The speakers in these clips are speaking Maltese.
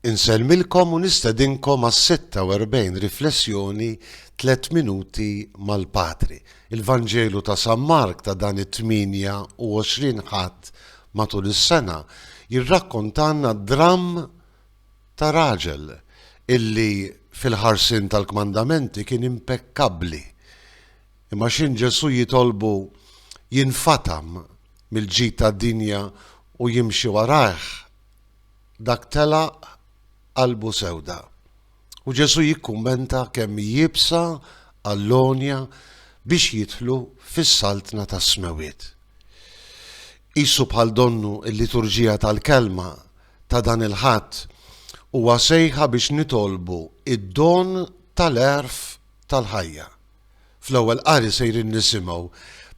Insellmilkom u nistedinkom għas-46 riflessjoni Tliet Minuti mal-Patri. Il-Vanġelu ta' San Mark ta' dan it-28 Ħadd matul is-sena jirrakkontalna d-dramm ta' raġel illi fil-ħarsien tal-kmandamenti kien impekkabbli. Imma x'inhu Ġesù jitolbu jinfatam mill-ġid tad-dinja u jimxi warajh, dak telaq qalbu sewda. U Ġesù jikkummenta kemm hi iebsa għall-għonja biex jidħlu fis-Saltna tas-Smewwiet. Qisu bħal donnu l-liturġija tal-Kelma ta' dan il-Ħadd, huwa sejħa biex nitolbu d-don tal-għerf tal-ħajja. Fl-ewwel qari sejrin nisimgħu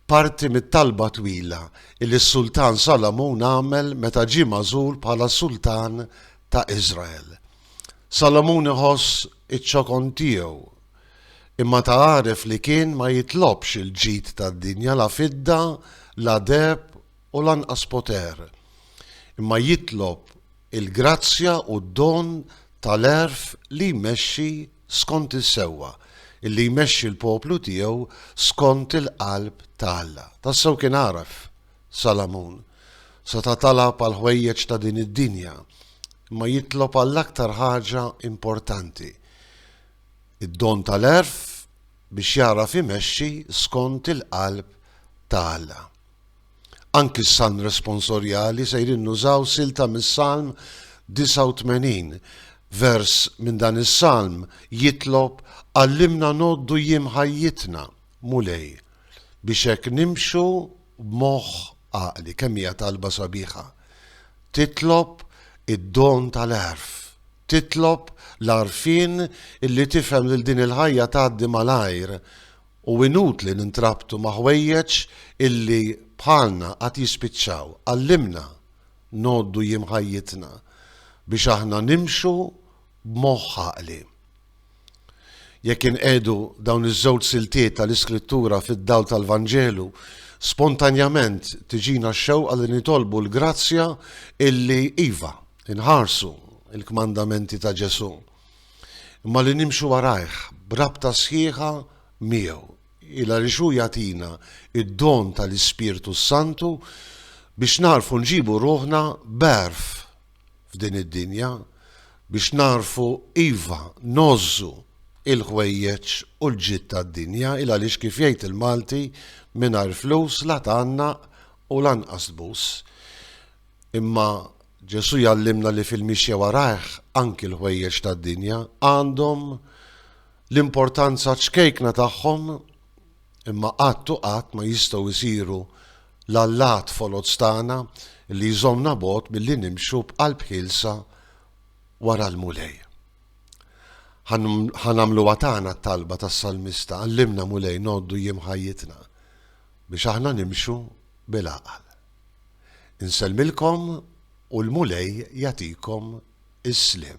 parti mit-talba twila li s-Sultan Salamun għamel meta ġie magħżul bħala Sultan ta' Iżrael. Salamun iħoss iċ-ċokon tiegħu, imma ta' għaref li kien ma jitlobx il-ġid tad-dinja, la fidda, la deheb u lanqas poter, imma jitlob il-grazzja u d-don tal-għerf li jmexxi, skont is-sewwa, li jmexxi l-poplu tiegħu skont il-qalb ta' Alla. Tassew kien għaref Salamun seta' talab għall-ħwejjeġ ta' din id-dinja, imma jitlob għall-aktar ħaġa importanti, id-don tal-għerf biex jagħraf imexxi skont il-qalb ta' Alla. Anki s-Salm Responsorjali sejrin nużaw silta mis-Salm 89. Vers minn dan is-Salm jitlob, Għallimna ngħoddu jiem ħajjitna, Mulej, biex hekk nimxu b'moħħ għaqli. Kemm hija talba sabiħa! Titlob id-don tal-għerf. Titlob l-għarfien illi tifhem lil din il-ħajja tgħaddi malajr u inutli nintrabtu ma' ħwejjeġ illi bħalna għad jispiċċaw. Għallimna ngħoddu jiem ħajjitna biex aħna nimxu b'moħħ għaqli. Jekk inqiegħdu dawn iż-żewġ siltiet tal-Iskrittura fid-dawl tal-Vanġelu, spontanjament tiġina x-xewqa li nitolbu l-grazzja illi, iva, inħarsu l-kmandamenti ta' Ġesù, imma li nimxu warajh b'rabta sħiħa miegħu, il għaliex hu jagħtina d-don tal-Ispirtu s-Santu biex nagħrfu nġibu ruħna b'għerf f'din id-dinja biex nagħrfu iva ngħożżu l-ħwejjeġ u l-ġid tad-dinja il għaliex kif jgħid il-Malti mingħajr flus la tgħannaq u lanqas tbus. Imma Ġesù jgħallimna li fil-mixja warajh anki l-ħwejjeġ tad-dinja għandhom l-importanza ċkejkna tagħhom imma qatt u qatt ma jistgħu jsiru l-allat foloz tagħna li jżommna bogħod milli nimxu b'qalb ħielsa wara l-Mulej. Ħa nagħmluha tagħna t-talba tas-salmista, Għallimna, Mulej, ngħoddu jiem ħajjitna biex aħna nimxu bil-għaqal. Insellmilkom u l-Mulej jagħtikom is-sliem.